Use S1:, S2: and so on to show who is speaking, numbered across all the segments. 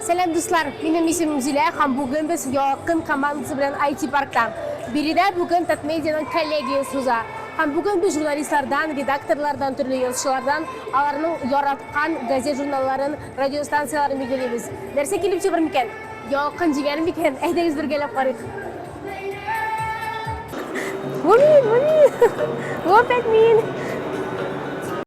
S1: Сәлам дуслар, минем исемем Зилә һәм бүген без Ялкын командасы белән IT паркта. Биредә бүген Татмедианың коллегиясе уза. Һәм бүген без журналистлардан, редакторлардан, төрле язучылардан аларның яраткан газет-журналларын, радиостанцияләрен билгелибез. Нәрсә килеп чыгыр микән? Ялкын җигәр микән? Әйдәгез бергәләп карыйк. Бу мин, бу мин. Бу опять мин.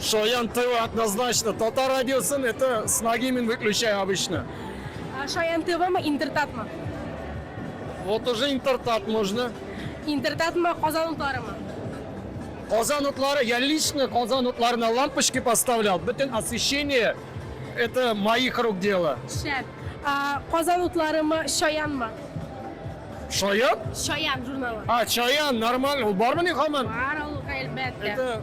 S1: Шаян ТВ
S2: однозначно. Татар радиосын это с ноги мин выключаю обычно. А Шаян
S1: ТВ мы Интертат мы?
S2: Вот уже интертат можно. Интертат мы
S1: Казан утлары мы? Казан
S2: утлары, я лично Казан утлары на лампочки поставлял. Бөтен освещение, это моих рук дело. Шәп. А,
S1: Казан утлары мы Шаян мы?
S2: Шаян? Шаян
S1: журналы. А, Чаян,
S2: нормально. Ул бар мени хаман? Бар ул, әлбәттә.
S1: Это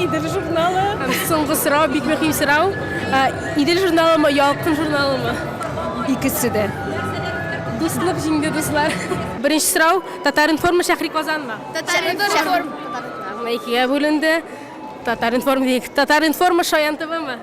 S3: Идел журналы. Соңгы сорау,
S1: бик мөһим сорау. Идел журналымы, Ялкын журналымы? Икесе дә.
S3: Дуслык
S1: җиңде, дуслар. Беренче сорау, Татар-информ шәхри Казанмы? Татар-информ.
S4: Икегә
S1: бүленде. Татар-информ, Татар-информ Шаян ТВмы?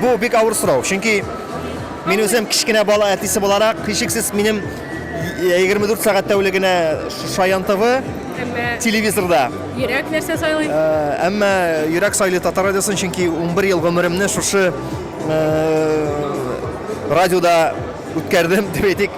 S5: Бу бик авыр сорау, чөнки мин үзем кечкенә бала әтисе буларак, һичшиксез минем 24 сәгать тәүлегенә Шаян ТВ телевизорда. Йөрәк
S1: нәрсә сайлый? Әмма
S5: йөрәк сайлый татар радиосын, чөнки 11 ел гомеремне шушы радиода үткәрдем, дип әйтик.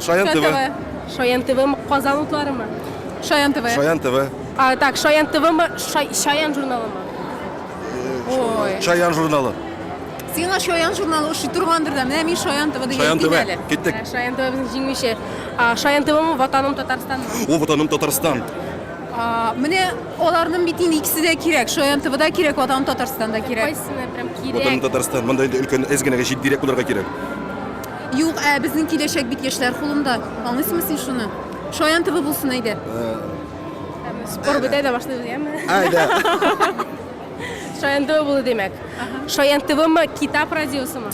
S1: Шаян
S6: ТВ. Шаян ТВ
S1: Казан утларымы? Шаян ТВ. Шаян
S3: ТВ. А,
S6: так, Шаян
S1: ТВмы, Шай- Шаян журналымы?
S3: Ой. Шаян журналы.
S6: Сиңа
S3: Шаян журналы ошый торгандыр да. Менә мин Шаян ТВ дигән Шаян ТВ. әле. Киттек.
S6: Ә, Шаян ТВ
S3: безнең
S6: җиңүче.
S1: А, Шаян ТВмы Ватаным Татарстанмы? О, ватаным Татарстан.
S6: А, Менә
S3: аларның бит инде икесе дә кирәк. Шаян ТВ да кирәк, Ватан Татарстан да кирәк. Кайсына прям Ватаным
S1: кирәк? Татарстан. Монда
S6: инде
S1: өлкән әз
S6: генәгә җитдирәк булырга кирәк. Юк,
S3: ә безнең киләчәк бит яшьләр кулында. Аңлыйсыңмы син шуны? Шаян төбе булсын әйдә.
S1: Спор бетә дә башлыйбыз, яме? Әйдә. Шаян төбе булу димәк. Шаян төбеме, Китап радиосымы?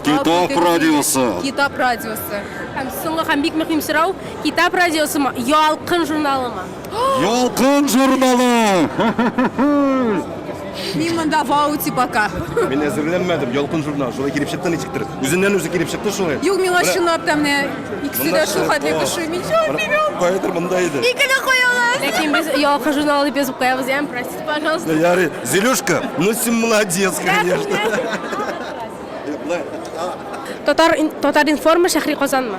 S6: Китап
S1: радиосы. Китап
S6: радиосы. Һәм
S1: соңгы һәм бик мөһим сорау, Китап радиосымы, Ялкын журналымы? Ялкын
S6: журналы!
S3: Мин монда вау тип ака. Мин әзерләнмәдем,
S6: ялкын журнал. Шулай килеп чыкты ничектер. Үзеннән үзе килеп чыкты шулай. Юк, миңа чынлап та
S3: менә икесе дә шул хәтле кеше. Мин чын бирәм. Каядыр монда иде.
S6: Икене куялар.
S3: Ләкин без ялкын
S1: журналы дип язып куябыз, ям, простите, пожалуйста. Ярый, Зелюшка,
S6: ну син молодец, конечно. Татар
S1: Татар информа шәһри Казанмы?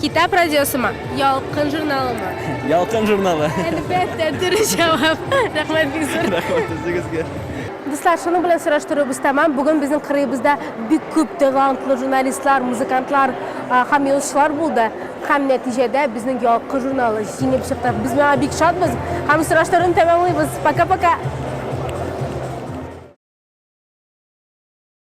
S7: Китап радиосымы?
S1: Ялкын журналымы? Ялкын журналы.
S7: Әлбәттә, дөрес
S1: җавап. Рәхмәт бик зур. Рәхмәт үзегезгә.
S7: Дуслар, шуның
S1: белән сораштыруыбыз тәмам. Бүген безнең кырыебызда бик күп талантлы журналистлар, музыкантлар һәм язучылар булды. Һәм нәтиҗәдә безнең Ялкын журналы җиңеп чыкты. Без моңа бик шатбыз һәм сораштыруны тәмамлыйбыз. Пока-пока!